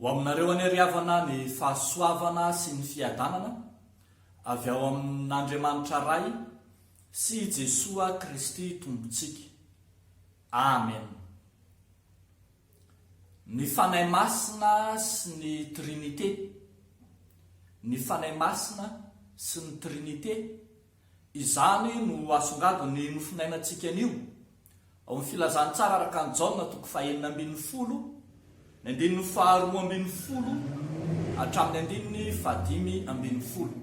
Ho aminareo anie ry havana ny fahasoavana sy ny fiadanana avy ao amin'Andriamanitra Ray sy i Jesoa Kristy Tompontsika. Amen. Ny Fanahy Masina sy ny Trinite Ny Fanahy Masina sy ny Trinite, izany no asongadin'ny mofonainantsika anio. Ao amin'ny Filazantsara araka an'i Jaona toko fahenina ambin'ny folo, ny andininy faharoa ambin'ny folo hatramin'ny andininy fahadimy ambin'ny folo.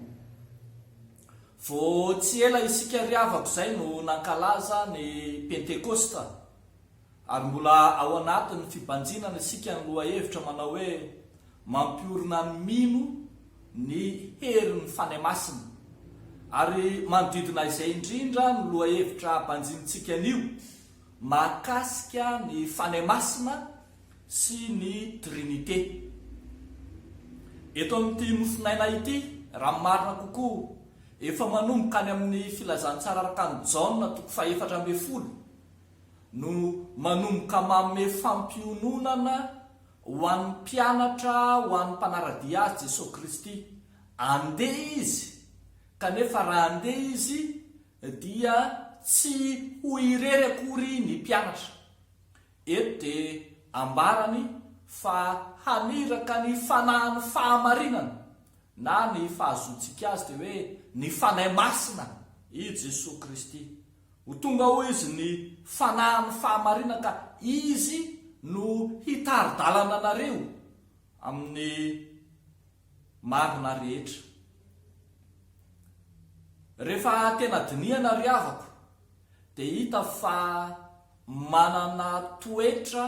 Vao tsy ela isika ry havako izay no nankalaza ny Pentekosta. Ary mbola ao anatin'ny fibanjinana isika ny lohahevitra manao hoe, Mampiorina ny mino ny herin'ny Fanahy Masina. Ary manodidina izay indrindra no lohahevitra banjinintsika anio, mahakasika ny Fanahy Masina sy ny Trinite. Eto amin'ity Nofon'aina ity, raha ny marina kokoa, efa manomboka any amin'ny Filazantsara araka an'i Jaona toko fahefatra ambin'ny folo no manomboka manome fampiononana ho an'ny mpianatra ho an'ny mpanara-dia azy Jesoa Kristy. Andeha izy, kanefa raha andeha izy dia tsy ho irery akory ny mpianatra. Eto dia ambarany fa haniraka ny fanahin'ny fahamarinana na ny fahazoantsika azy dia hoe ny Fanahy Masina i Jesoa Kristy. Ho tonga hoy izy ny fanahin'ny fahamarinan ka izy no hitari-dalana anareo amin'ny marina rehetra. Rehefa tena dinihana ry havako dia hita fa manana toetra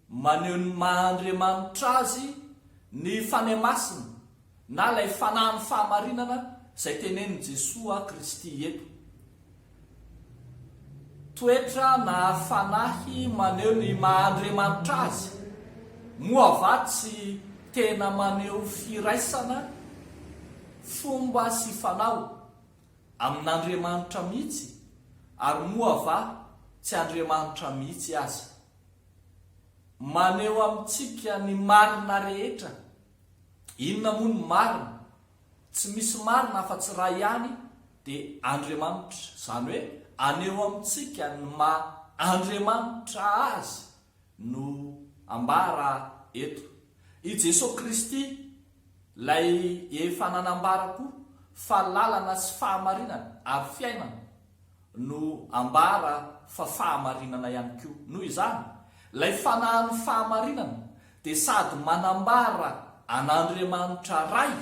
Maneho ny maha Andriamanitra Azy ny Fanahy Masina na ilay Fanahin'ny fahamarinana izay tenenin'i Jesoa Kristy eto. Toetra na Fanahy maneho ny maha Andriamanitra Azy, moa va tsy tena maneho firaisana, fomba sy fanao, amin'Andriamanitra mihitsy, ary moa va tsy Andriamanitra mihitsy aza? Maneho amintsika ny marina rehetra. Inona moa ny marina? Tsy misy marina afa-tsy iray ihany, dia Andriamanitra. Izany hoe aneho amintsika ny maha Andriamanitra Azy no ambara eto. I Jesoa Kristy, Ilay efa nanambara koa fa lalana sy fahamarinana ary fiainana, no ambara fa fahamarinana ihany koa. Noho izany, ilay fanahin'ny fahamarinana dia sady manambara an'Andriamanitra Ray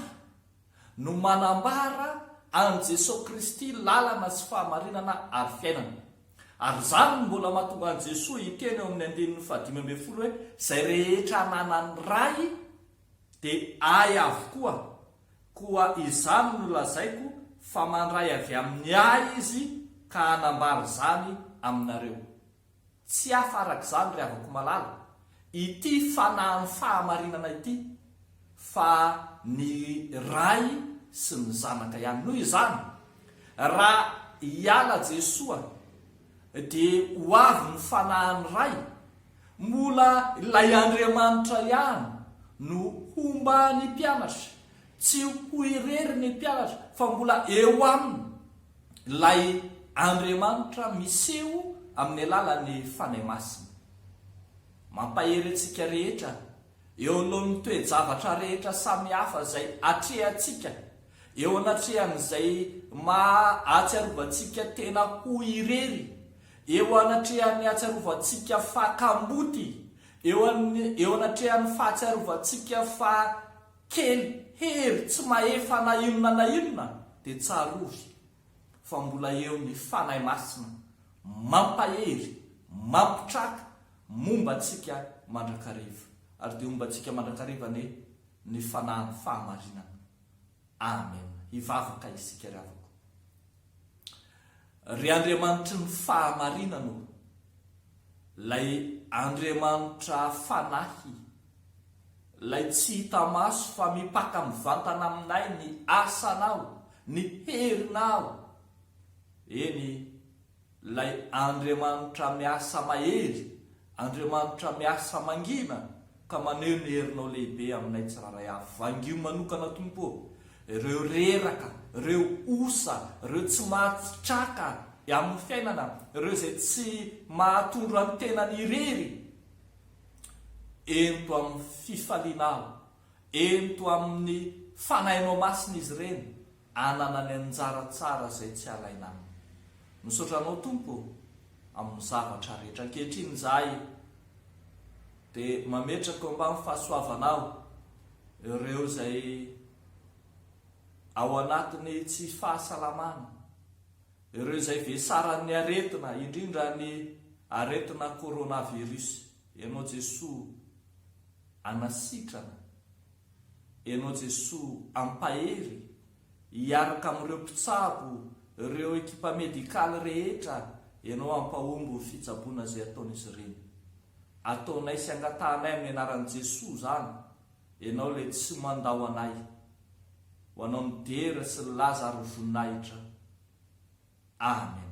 no manambara an'i Jesoa Kristy lalana sy fahamarinana ary fiainana. Ary izany no mbola mahatonga an'i Jesoa hiteny eo amin'ny andininy fahadimy ambin'ny folo hoe, Izay rehetra ananan'ny Ray Dia Ahy avokoa, koa izany no lazaiko fa mandray avy amin'ny Ahy Izy ka hanambara izany aminareo. Tsy hafa arak'izany ry havako malala, ity Fanahin'ny fahamarinana ity, fa ny Ray sy ny Zanaka ihany. Noho izany, raha hiala Jesoa, Dia ho avy ny Fanahin'ny Ray. Mbola ilay Andriamanitra ihany no homba ny mpianatra. Tsy ho irery ny mpianatra fa mbola eo aminy ilay Andriamanitra miseho amin'ny alalan'ny Fanahy Masina. Mampahery antsika rehetra eo anoloan'ny toe-javatra rehetra samihafa izay atrehantsika eo anatrehan'izay maha atsiarovantsika tena ho irery, eo anatrehan'ny hatsiarovantsika fa kamboty, eo eo anatrehan'ny fahatsiarovantsika fa kely hery, tsy mahefa na inona na inona, dia tsarovy. fa mbola eo ny Fanahy Masina mampahery, mampitraka, momba antsika mandrakariva. Ary dia homba antsika mandrakariva anie ny Fanahin'ny fahamarinana. Amen. Hivavaka isika ry havako. Ry Andriamanitry ny fahamarinana ô, ilay Andriamanitra Fanahy, Ilay tsy hita maso fa mipaka mivantana aminay ny asanao, ny herinao. Eny, ilay Andriamanitra miasa mahery, Andriamanitra miasa mangina ka maneho ny herinao lehibe aminay tsirairay avy. Vangio manokana Tompo ô, ireo reraka, ireo osa, ireo tsy mahatsitraka amin'ny fiainana, ireo izay tsy mahatondra ny tenany irery. Ento amin'ny fifaliana aho. Ento amin'ny Fanahinao Masina izy ireny hanana ny anjara tsara izay tsy halaina aminy. Misaotra Anao, Tompo, amin'ny zavatra rehetra. Ankehitriny izahay dia mametraka eo ambanin'ny fahasoavanao ireo izay ao anatin'ny tsy fahasalamana. ireo izay vesaran'ny aretina indrindra ny aretina coronavirus ianao Jesoa anasitrana ianao Jesoa ampahery hiaraka amin'ireo mpitsabo ireo ekipa medical rehetra ianao ampahomby ny fitsaboana izay ataon'izy ireny ataonay sy angatahanay amin'ny anaran'i Jesoa izany Enao le tsy mandao anay ho anao midera sy laza ary ho voninahitra amen.